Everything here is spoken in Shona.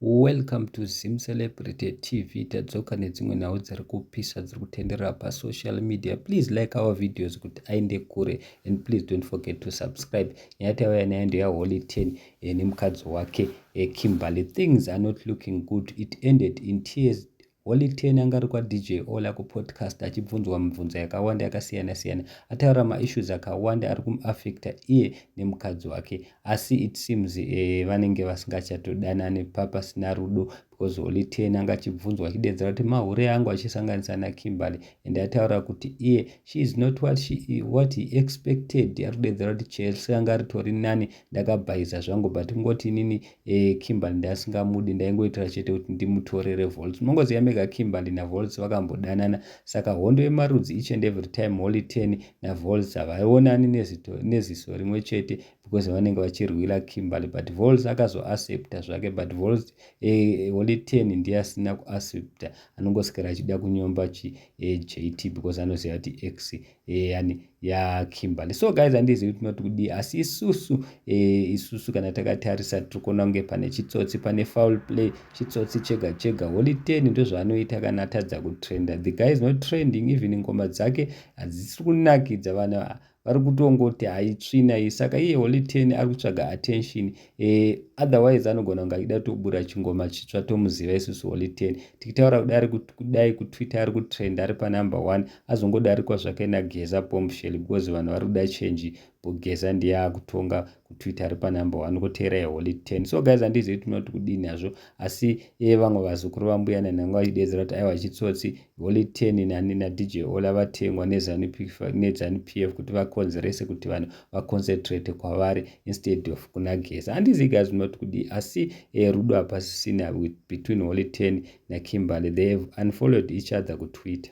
Welcome to Zim Celebrity TV. Tadzoka nedzimwe nhau dziri kupisa dziri kutenderera pasocial media. Please like our videos kuti aende kure and please don't forget to subscribe. Nyaya tauya nayo ndeya Holy 10 eh, nemukadzi wake eh, Kimberly. Things are not looking good. It ended in tears Holy Ten anga ari kwaDJ Ola kupodcast achibvunzwa mibvunzo yakawanda yakasiyana siyana ataura maissues akawanda ari kumuaffecta iye nemukadzi wake asi it seems eh, vanenge vasingachatodanane papasina rudo because Holy Ten anga achibvunzwa achideedzera kuti mahure angu achisanganisa naKimberly and ataura kuti iye she is not what, she, what he expected ari kudeedzera kuti Chelsea anga ritori nani ndakabhaiza zvangu but kungoti inini eh, kimberly ndasingamudi ndaingoitira chete kuti ndimutorere volts unongoziva mega kimberly navolts vakambodanana saka hondo yemarudzi each and every time holy ten navolts havaonani neziso rimwe chete because vanenge vachirwira kimberly but volts akazoaccepta zvake but volts eh, holy ten ndiye asina kuaccepta anongosikira achida kunyomba chi eh, jt because anoziva kuti x Eh, yani ya kimberly so guys handizivi kuti noti kudii asi isusu eh, isusu kana takatarisa tiri kuona kunge pane chitsotsi pane foul play chitsotsi chega chega holy ten ndozvaanoita kana atadza kutrenda the guy is not trending even ngoma dzake hadzisiri kunakidza vana vari kutongoti haitsvina iyi saka iye holy ten ari kutsvaga attention e, otherwise anogona kunge achida kutobura chingoma chitsva tomuziva isusu holy ten tikitaura kudai kudai kutwitter ari kutrend ari panumber one azongodarikwa zvake nageza bombshell because vanhu vari kuda chenji bogeza ndiye akutonga kutwitter ari panumber one koteera yeholy ten so guys handizivi tinoti kudini hazvo asi e vamwe vazukuru vambuya nanhanga vachidedzera kuti aiwa chitsotsi Holy Ten nani naDJ Ola vatengwa neZanu PF kuti vakonzerese kuti vanhu vaconcentrate kwavari instead of kuna Geza. Handizi guys munoti kudii asi eh, rudo hapasisina between Holy Ten naKimberly. They have unfollowed each other kuTwitter.